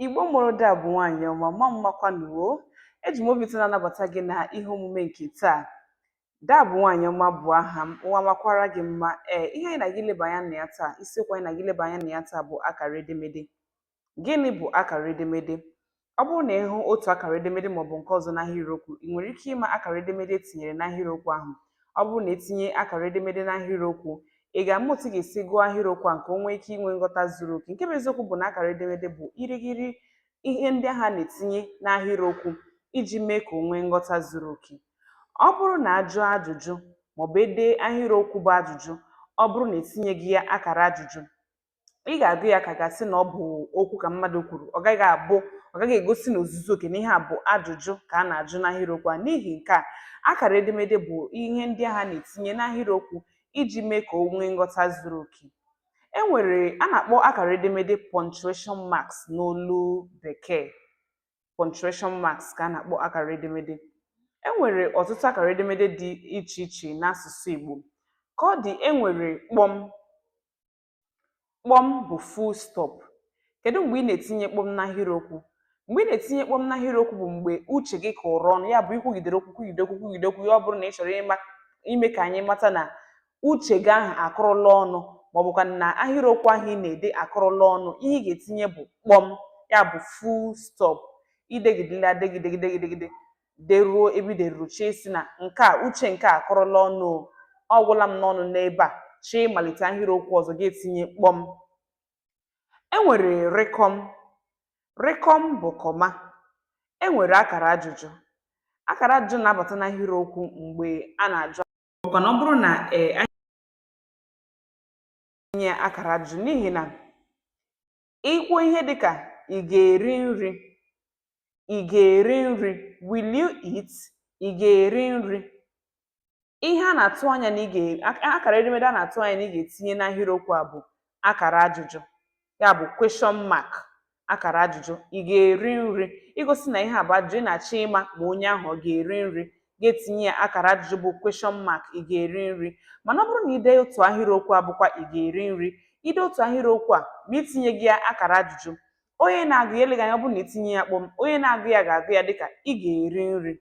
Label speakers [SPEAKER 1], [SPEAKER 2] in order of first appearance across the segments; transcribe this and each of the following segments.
[SPEAKER 1] Igbo mụrụ da bụ nwaanyị ọma mma mmakwanụ o eji m obi ụtọ na-anabata gị n'ihe omume nke taa da bụ nwaanyị ọma bụ aha m ụwa makwara gị mma ee ihe anyị na-aga ileba anya na ya taa isiokwu anyị na-aga ileba anya na ya taa bụ akara edemede gịnị bụ akara edemede ọ bụrụ na ị hụ otu akara edemede maọbụ nke ọzọ n'ahịrịokwu ị nwere ike ịma akara edemede e tinyere n'ahịrịokwu ahụ ọ bụrụ na e tinye akara edemede n'ahịrịokwu Ị ga-ama otu ị ga-esi gụọ ahịrịokwu a nke o nwee ike inwe nghọta zuru oke. Nke bụ eziokwu bụ na akara edemede bụ irighiri ihe ndị ahụ a na-etinye n'ahịrịokwu iji mee ka o nwee nghọta zuru oke. Ọ bụrụ na a jụọ ajụjụ maọbụ e dee ahịrịokwu bụ ajụjụ, ọ bụrụ na e tinyeghị ya akara ajụjụ, ị ga-agụ ya ka a ga-asị na ọ bụ okwu ka mmadụ kwuru ọ gaghị abụ ọ gaghị egosi n'ozuzu oke na ihe a bụ ajụjụ ka a na-ajụ n'ahịrịokwu a n'ihi nke a akara edemede bụ ihe ndị ahụ a na-etinye n'ahịrịokwu iji mee ka o nwee nghọta zuru oke e nwere a na-akpọ akara edemede punctuation marks n'olu bekee punctuation marks ka a na-akpọ akara edemede e nwere ọtụtụ akara edemede dị iche iche n'asụsụ Igbo ka ọ dị e nwere kpọm Kpọm bụ full stop. Kedụ mgbe ị na-etinye kpọm n'ahịrịokwu? Mgbe ị na-etinye kpọm n'ahịrịokwu bụ mgbe uche gị kụrụ ọnụ, ya bụ i kwugidere okwu kwugide okwu kwugide okwu ya ọ bụrụ na ị chọrọ ịma ime ka anyị mata na uche gị ahụ akụrụla ọnụ ma ọ bụkwa na ahịrịokwu ahụ ị na-ede akụrụla ọnụ, ihe ị ga-etinye bụ kpọm, ya bụ full stop. I degidela degide degide degide, deruo ebe i deruru chọọ ịsị na nke a uche nke a akụrụla ọnụ o ọ gwụla m n'ọnụ n'ebe a chọọ ịmalite ahịrịokwu ọzọ gị etinye kpọm e nwere rịkọm rịkọm bụ comma e nwere akara ajụjụ akara ajụjụ na-abata n'ahịrịokwu mgbe a na-ajụ ọkwa na ọ bụrụ na e nye akara ajụjụ n'ihi na Ị kwuo ihe dị ka ị ga-eri nri, ị ga-eri nri, will you eat? Ị ga-eri nri. Ihe a na-atụ anya na ị ga akara edemede a na-atụ anya na ị ga-etinye n'ahịrịokwu a bụ akara ajụjụ, ya bụ question mark, akara ajụjụ. Ị ga-eri nri. Igosi na ihe a bụ ajụjụ, ị na-achọ ịma ma onye ahụ ọ ga-eri nri. ga-etinye ya akara ajụjụ bụ question mark ị ga-eri nri mana ọ bụrụ na i dee otu ahịrịokwu a bụkwa ị ga-eri nri i dee otu ahịrịokwu a ma i tinyeghị ya akara ajụjụ onye na-agụ ya eleghị anya ọ bụrụ na i tinye ya kpọm onye na-agụ ya ga-agụ ya dịka ị ga-eri nri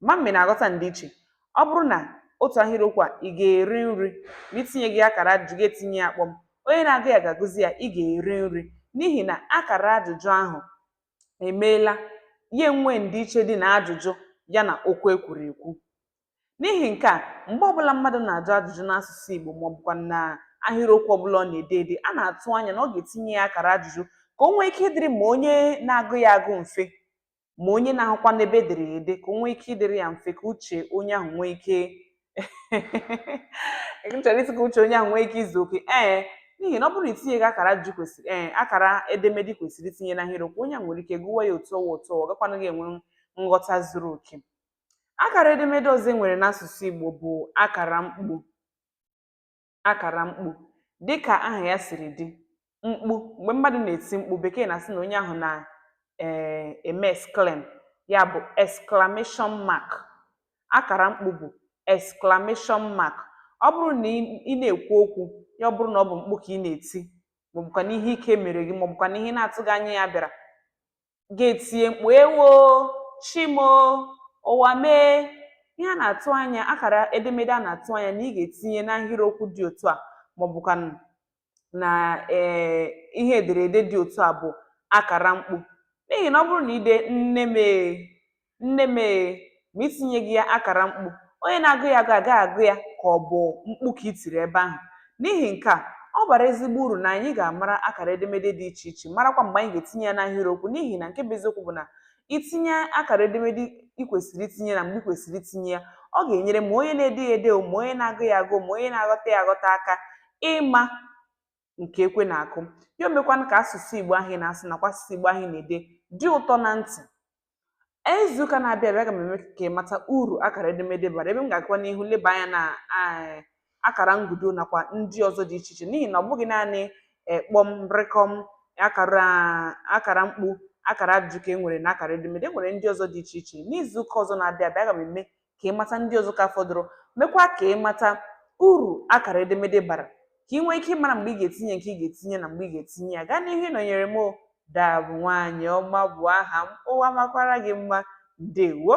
[SPEAKER 1] ama m ma ị na-aghọta ndịiche ọ bụrụ na otu ahịrịokwu a ị ga-eri nri ma i tinyeghị akara ajụjụ gị etinye ya kpọm onye na-agụ ya ga-agụzi ya ị ga-eri nri n'ihi na akara ajụjụ ahụ emeela ya enwee ndịiche dị na ajụjụ ya na okwu e kwuru ekwu. N'ihi nke a, mgbe ọbụla mmadụ na-ajụ ajụjụ n'asụsụ Igbo maọbụkwanụ na ahịrịokwu ọbụla ọ na-ede ede, a na-atụ anya na ọ ga-etinye ya akara ajụjụ ka o nwee ike ịdịrị ma onye na-agụ ya agụ mfe ma onye na-ahụkwanụ ebe e dere ya ede ka o nwee ike ịdịrị ya mfe ka uche onye ahụ nwee ike chọrọ ịsị ka uche onye ahụ nwee ike izu oke ee n'ihi na ọ bụrụ na i tinyeghị akara i kwesịrị ee akara edemede i kwesịrị itinye n'ahịrịokwu onye ahụ nwere ike gụwa ya otu ọwa otu ọwa gakwanaghị enwe nghọta zuru oke akara edemede ọzọ e nwere n'asụsụ Igbo bụ akara mkpu akàrà mkpu dịkà ahà ya sìrì dị mkpu m̀gbè mmadụ̀ nà-èti mkpu bèkee nà-àsị nà onye ahụ̀ nà um ème exclaim ya bụ̀ exclamation mark akàrà mkpu bụ̀ exclamation mark ọ bụrụ nà ị ị na-èkwu okwu ya ọ bụrụ nà ọ bụ̀ mkpu kà ị nà-èti màọ̀bụ̀kwànụ̀ ihe ike mèrè gị màọ̀bụ̀kwànụ̀ ihe ị na-atụghị anya ya bịàrà ga-etinye mkpu ewo Chi m o ụwa m ee ihe a na-atụ anya akara edemede a na-atụ anya na ị ga-etinye n'ahịrịokwu dị otu a maọbụkwa na ee ihe ederede dị otu a bụ akara mkpu n'ihi na ọ bụrụ na i de nne m ee Nne m ee! Ma i tinyeghị ya akara mkpu, onye na-agụ ya agụ agaghị agụ ya ka ọ bụ mkpu ka i tiri ebe ahụ. N'ihi nke a, ọ bara ezigbo uru na anyị ga-amara akara edemede dị iche iche, marakwa mgbe anyị ga-etinye ya n'ahịrịokwu n'ihi na nke bụ eziokwu bụ na i tinye akara edemede i kwesịrị itinye na mgbe i kwesịrị itinye ya, ọ ga-enyere ma onye na-ede ya ede o, ma onye na-agụ ya agụ o, ma onye na-aghọta ya aghọta aka ịma nke ekwe na-akụ ya o mekwanụ ka asụsụ Igbo ahụ ị na-asụ nakwa asụsụ Igbo ahụ ị na-ede dị ụtọ na ntị Ee, izuụka na-abịa abịa aga m eme ka ị mata uru akara edemede bara ebe m ga-agakwa n'ihu leba anya na eh, akara nkudo nakwa ndị ọzọ dị iche iche n'ihi na ọ bụghị naanị eh, kpọm rịkọm akara akara mkpu akara ajụjụ ka e nwere na akara edemede e nwere ndị ọzọ dị iche iche n'izuụka ọzọ na-abịa abịa aga m eme ka ị mata ndị ọzọ ka fọdụrụ mekwa ka ị mata uru akara edemede bara ka ị nwee ike ịmara mgbe ị ga-etinye nke ị ga-etinye na mgbe ị ga-etinye ya gaa n'ihu ịnọnyere m dabụ nwaanyị ọma bụ aha m ụwa makwara gị mma ndewo